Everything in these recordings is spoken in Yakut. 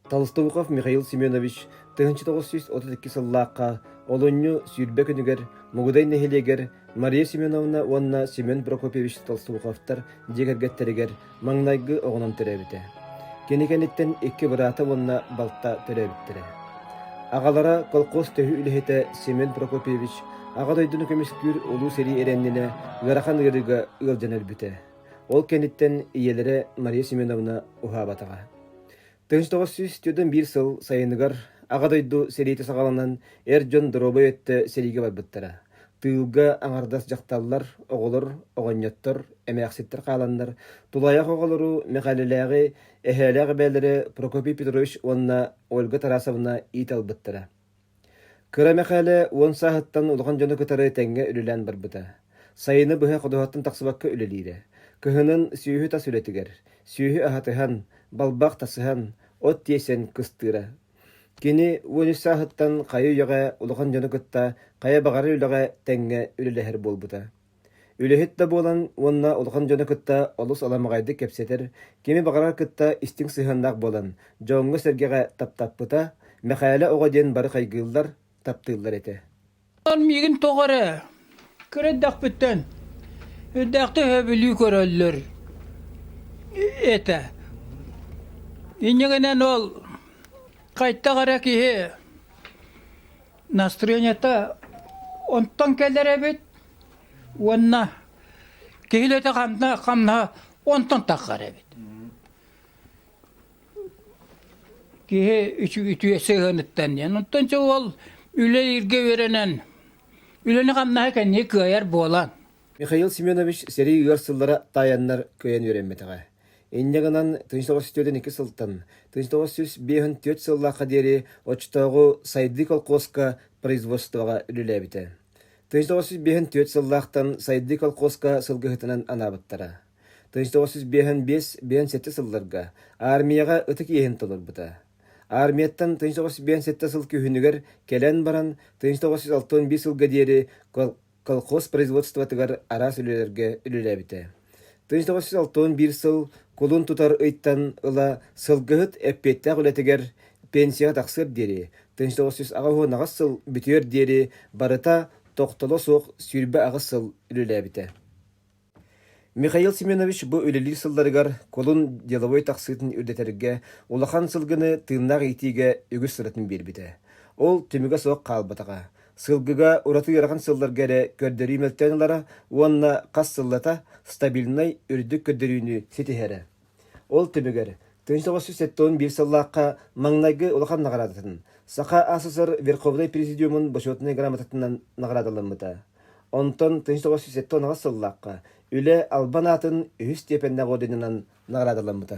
Толстовуков Михаил Семенович тыһыынча тоҕус сүүс отут икки сыллаахха олунньу сүүрбэ күнүгэр Мугудай нэһилиэгэр Мария Семеновна уонна Семен Прокопьевич Толстовуковтар дьиэ кэргэттэригэр маҥнайгы оҕонон төрөөбүтэ. Кини кэнниттэн икки быраата уонна балта төрөөбүттэрэ. Аҕалара колхоз төһүү үлэһитэ Семен Прокопьевич Аҕа дойдуну көмүскүүр улуу сэрии эрэннинэ ыарахан ыарыыга ыалдьан өлбүтэ. Ол кэнниттэн ийэлэрэ Мария Семеновна уһаабатаҕа. Тыһыынча тоҕус сүүс түөртэн биир сыл сайыныгар Аҕа дойду сэриитэ саҕаланан эр дьон доруобай өттө сэриигэ барбыттара. Тыылга аҥардас дьахталлар, оҕолор, оҕонньоттор, эмээхситтэр хааланнар, тулаайах оҕолору Мэхээлэлээҕи эһээлээх эбээлэрэ Прокопий Петрович уонна Ольга Тарасовна иит ылбыттара. Кыра Мэхээлэ уон сааһыттан улахан дьону кытары тэҥҥэ үлэлээн барбыта. Сайыны быһа ходуһаттан тахсыбакка үлэлиирэ. Кыһынын сүөһү тас үлэтигэр, сүөһү аһатыһан, балбах тасыһан, от тиэйсэн кыстыыра. Кини уон үс сааһыттан хайы-үйэҕэ улахан дьону кытта хайа баҕарар үлэҕэ тэҥҥэ үлэлэһэр буолбута Үлэһит да буолан уонна улахан дьону кытта олус аламаҕайдык кэпсэтэр, кими баҕарар кытта истиҥ сыһыаннаах буолан, дьоҥҥо-сэргэҕэ таптаппыта, Мэхээлэ оҕо диэн бары хайгыыллар, таптыыллар этэ. Ол миигин тоҕо эрэ кыра эрдэхпиттэн үрдээхтик өһөбүлүү көрөллөр этэ. Иннигинэн ол хайдах эрэ киһи Настроенията онтон кэлэр эбит уонна киһилэтэ ханна хамнаһа онтон таххар эбит. Киһи үтүө сыһыаныттан диэн. Онтон дьэ ол үлэлиргэ үөрэнэн үлэни хамнаһа кэнники кыайар буолан. Михаил Семенович сэрии ыар сыллара таайаннар кыайан үөрэммэтэҕэ. Инньэ гынан тыйыс оҕус үтүөтүн икки сылтан, тыйыс оҕус сүүс биэһин түөрт сыллаахха диэри оччотооҕу Сайдыы колхуоска производствоҕа үлэлээбитэ. Тыйыс оҕус сүүс биэһин түөрт сыллаахтан Сайдыы колхуоска сылгыһытынан анаабыттара. Тыйыс оҕус сүүс биэһин биэс биэһин сэттэ сылларга аармыйаҕа ытык иэһин толорбута. Аармыйаттан тыйыс оҕус биэһин сэттэ сыл күһүнүгэр кэлэн баран, тыйыс оҕус сүүс алты уон биир сылга диэри колхоз производствотыгар араас үлэлэргэ үлэлээбитэ. 1961 сыл кулун тутар ыйтан ыла сылгыһыт эппиэттээх үлэтигэр пенсияҕа тахсыар диэри 1900 сыл бүтүөр диэри барыта тохтоло суох сүүрбэ аҕыс сыл үлэлээбитэ. Михаил Семенович бу үлэлиир сылларыгар кулун деловой тахсыытын үрдэтэргэ улахан сылгыны тыыннаах иитиигэ үгүс сыратын биэрбитэ. Ол түмүгэ суох хаалбатаҕа. Сылгыга ураты ыарахан сылларга эрэ көрдөрүү мөлтөөн ылара уонна хас сыллата стабильнай үрдүк көрдөрүүнү ситиһэрэ. Ол түмүгэр, тыһыынча тоҕус сүүс сэттэ уон биир сыллаахха маҥнайгы улахан наҕараадатын Саха СССР Верховнай Президиумун Бочуотунай грамотатынан наҕараадаламмыта. Онтон тыһыынча тоҕус сүүс сэттэ уон сыллаахха Үлэ Албан аатын үһүс степеннээх орденынан наҕараадаламмыта.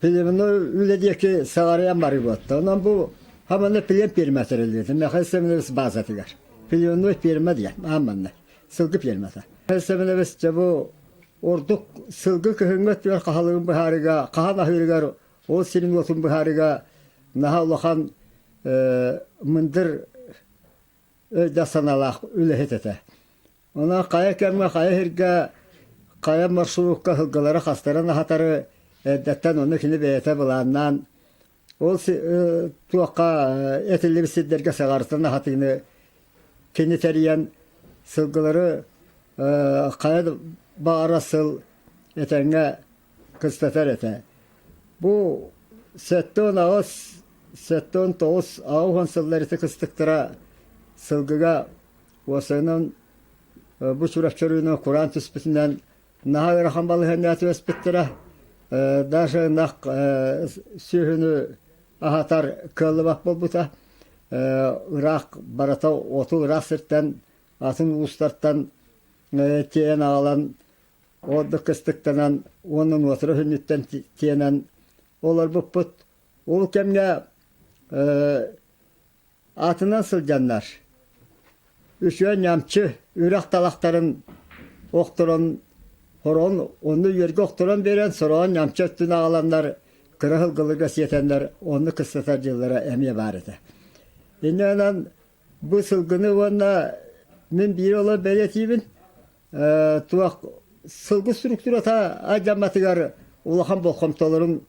Пилевно үлэ диэки саҕарыйан барыыбыт. Онон бу хаманы пилен пиэрмэ тэрилиэтэ. Михаил Семенович баазатыгар. Пиленной пиэрмэ диэн ааманна. Сылгы пиэрмэтэ. Михаил Семенович бу ордук сылгы көһүҥҥэ түөр хаһалыгын быһаарыга, хаһан аһыырыгар ол семенотун быһаарыга наһаа улахан мындыр өйдөөх санаалаах үлэһит этэ. Онон хайа кэмҥэ, хайа сиргэ, хайа маршрутка сылгылары-хастарын аһатары эрдэттэн ону кини бэйэтэ былааннаан ол туохха этиллибит сирдэргэ саҕарытан аһатыыны кини тэрийэн сылгылары хайа баҕара сыл этэҥҥэ кыстатар этэ. Бу сэттэ уон аҕыс, сэттэ уон тоҕус, аҕыс уон сыллар ити кыстыктара сылгыга Уосанан бу сүрэхчэ үрүүнү кураан түспүтүнэн наһаа ыарахан балаһыанньа түбэспиттэрэ. Даже нах сүөһүнү аһатар кыаллыбат буолбута. Ыраах барыта оту ыраах сиртэн атын уустартан тиэйэн аҕалан ордук кыстыктанан уонна нуотура хүннүттэн тиэнэн олорбуппут. Ол кэмҥэ аатынан сылдьаннар, үсүө ньамчы үрэх талахтарын охторон хороон онно үөргэ охторон биэрэн сороҕон ньамчы өттүн аҕаланнар кыра сылгылыга сиэтэннэр онну кыстатар дьыллара эмиэ баар этэ. Иннэнэн бу сылгыны уонна мин биир олор бэлэтиибин туох сылгы структурата адьаматыгар улахан болхомтолорун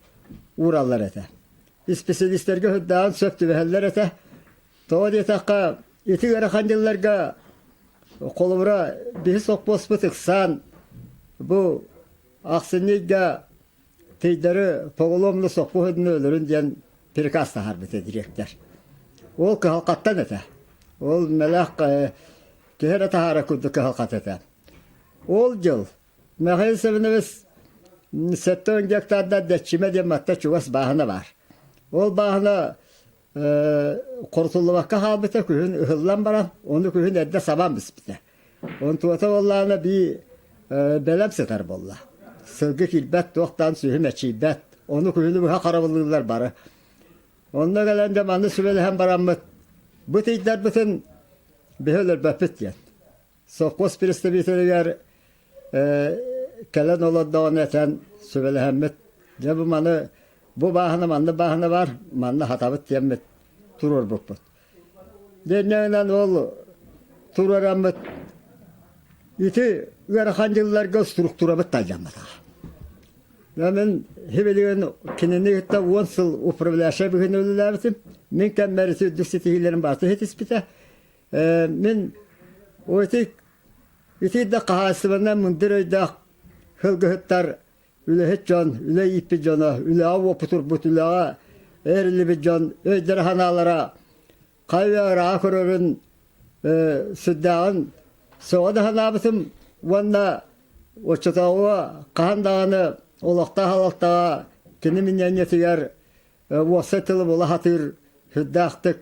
уураллар этэ. Исписэлиистэргэ сырдаан сөп түбэһэллэр этэ. Тоҕо диэтэххэ, ити ыарахан дьылларга холобура биһи сопхуоспут ыксаан бу ахсынньыйга Тейдары Поголовну соппуһунна өлөрүн диэн приказ таһаарбыта дириэктэр. Ол кыһалҕаттан этэ. Ол мэлэх киһи эрэ таһаара курдук кыһалҕат этэ. Ол дьыл Михаил Семенович сэттэ он гектардар дэччимэ диэн матта чугас бааһына баар. Ол бааһына Хорутуллубакка хаалбыта күһүн ыһыллан баран, ону күһүн эрдэ сабан биспитэ. Онтуота буоллаана бии бэлэм сытар буолла. Сылгы киирбэт, туохтаан сүөһү мэчийбэт. Ону күһүнү быһа харабыллыыллар бары. Онно кэлэн да манны сүбэлэһэн бараммыт, бу тиийдэрбитин биһи өлөрбөппүт диэн. Сокуос представителигэр кэлэн олордоҕун этэн сүбэлэһэммит дьэ бу маны бу бааһына манна бааһына баар манна сатабыт диэммит туруорбуппут дэннэнэн ол туруораммыт ити ыарахан дьылларга структурабыт талдьамматаҕа мин хибилигин кинини кытта уон сыл управляющай быһыыны үлэлээбитим мин кэммэр үрдүк ситиһиилэрим баата иһитиспитэ мин эти Итиэннэ хаһаайыстыбаннай мындыр өйдөөх сылгыһыттар үлэһит дьон, үлэ ииппит дьоно, үлэҕэ уопутурбут, үлэҕэ эһэриллибит дьон өйдөрө-санаалара хайа ырааҕа көрөрүн сүрдээҕин сөҕө да санаабытым уонна оччотооҕу хаһан даҕаны олохтоох салалтаҕа кини миниэньэтигэр уопсай тылы була сатыыр сүрдээхтик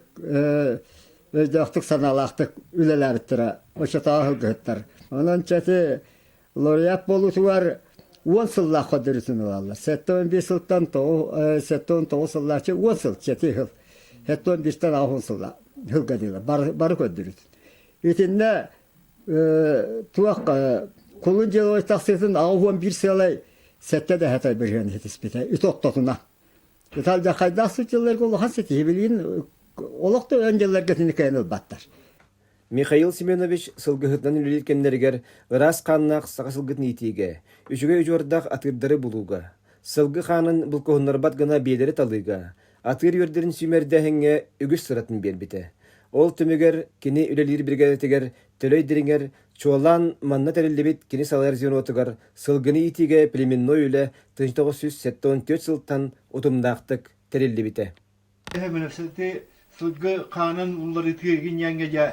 өйдөөхтүк санаалаахтык үлэлээбиттэрэ оччотооҕу сылгыһыттар. Онон чэти лауреат буолуутугар уон сыллаах көрдөрүүтүн ылаллар. Сэттэ уон биир сылтан сэттэ уон тоҕус сыллааччы уон сыл чэти сыл. Сэттэ уон биистэн алҕын сылла сылга диилэр бары бары көрдөрүүтүн. Итиннэ туох кулун дьылой тахсыытын аҕа уон биир сыалай сэттэ дэһэтэй быһыан хитиспитэ ит оттотуна Италдахайдаах сытчылларга улахан ситиһи билигин олох да өн дьылларгытын кээн ылбаттар. Михаил Семенович сылгыһыттан үлэлиир кэмнэригэр ыраас хааннаах саха сылгытын иитиигэ, үчүгэй учуордах атыырдары булууга, сылгы хаанын булкуһуннарбат гына биэлэри талыыга, атыыр үөрдэрин сүүмэрдээһиҥҥэ үгүс сыратын биэрбитэ. Ол түмүгэр кини үлэлиир биригээдэтигэр Төлөй дириҥэр, чуолаан манна тэриллибит кини салайар звенотугар сылгыны иитиигэ племенной үлэ 1974 сылтан утумнаахтык тэриллибитэ. Эминэсэти сылгы хаанын уларытыы гиньяҥҥа дьа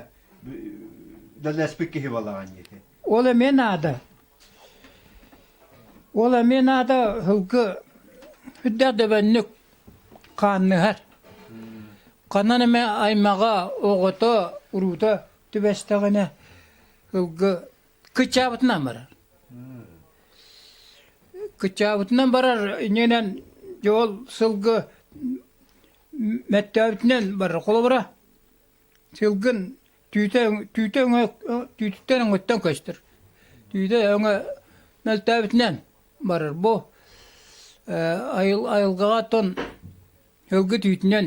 даласпыт киһи балаҕан диэти. Ол эме наада. Ол эме наада сылгы хүддэ дөбөннүк хаанныһар. Канан эме аймаҕа оҕото уруута түбэстэҕинэ ылгы кычаабытынан барар кычаабытынан барар иннинэн ол сылгы мэттөөбүтүнэн барар холобура сылгын түүтэ түүтэ өҥө түүтүттэн өҥөттөн көстөр түүтэ өҥө мөлтөөбүтүнэн барар бу айылгаҕа тон өлгө түүтүнэн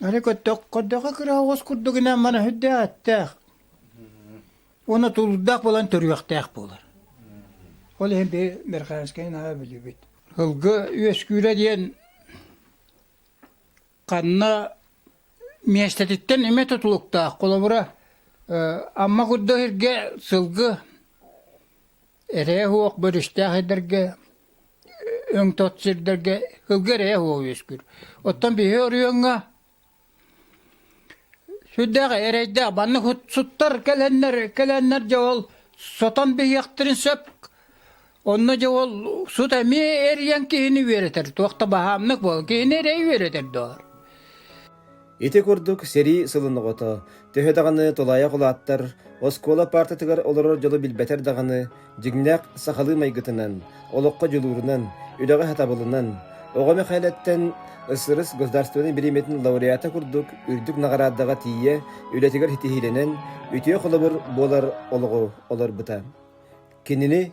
Аны көттөх көрдөхө кыра оҕус курдугунан мана сүрдээх Уна тулдах булан төрүөхтээх буолар. Ол иһин би Мерханскайын аға билибит. Ылгы үөскүүрэ диэн ханна миэстэтиттэн имэ тутулуктаах холобура Амма курда сиргэ сылгы Эрэйэ-суох бөрүстээх сирдэргэ өҥ-тот сирдэргэ кылгы эрэйэ-суох үөскүүр. Оттон биһи оройуоҥҥа сүрдээх эрэйдээх маннык суттар кэлэннэр кэлэннэр дьэ ол сотон биһиэхтэрин сөп. Онно дьэ ол сут эмиэ эрийэн киһини үөрэтэр. Туох да баһаамнык буол киһини эрэй үөрэтэр доҕор. Ити курдук сэрии сылын оҕото, төһө даҕаны тулаайах улааттар, оскуола паартатыгар олорор дьолу билбэтэр даҕаны, дьиҥнээх сахалыы майгытынан, олоххо дьулуурунан, үлэҕэ сатабылынан, оҕо Мэхээлэттэн Ысырыс государственнай бириэмэтин лауреата курдук үрдүк наҕараадаҕа тиийэ үлэтигэр ситиһиилэнэн, үтүө холобур буолар олоҕу олорбута. Кинини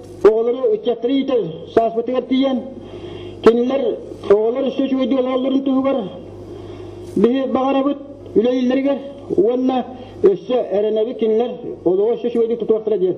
Оҕолору ыччаттары иитэр сааспытыгар тиийэн, кинилэр оҕолор үстэ үчүгэйдик олороллорун туһугар биһи баҕарабыт үлэлииллэригэр уонна өссө эрэнэбит кинилэр олоҕу үстэ үчүгэйдик тутуохтара диэн.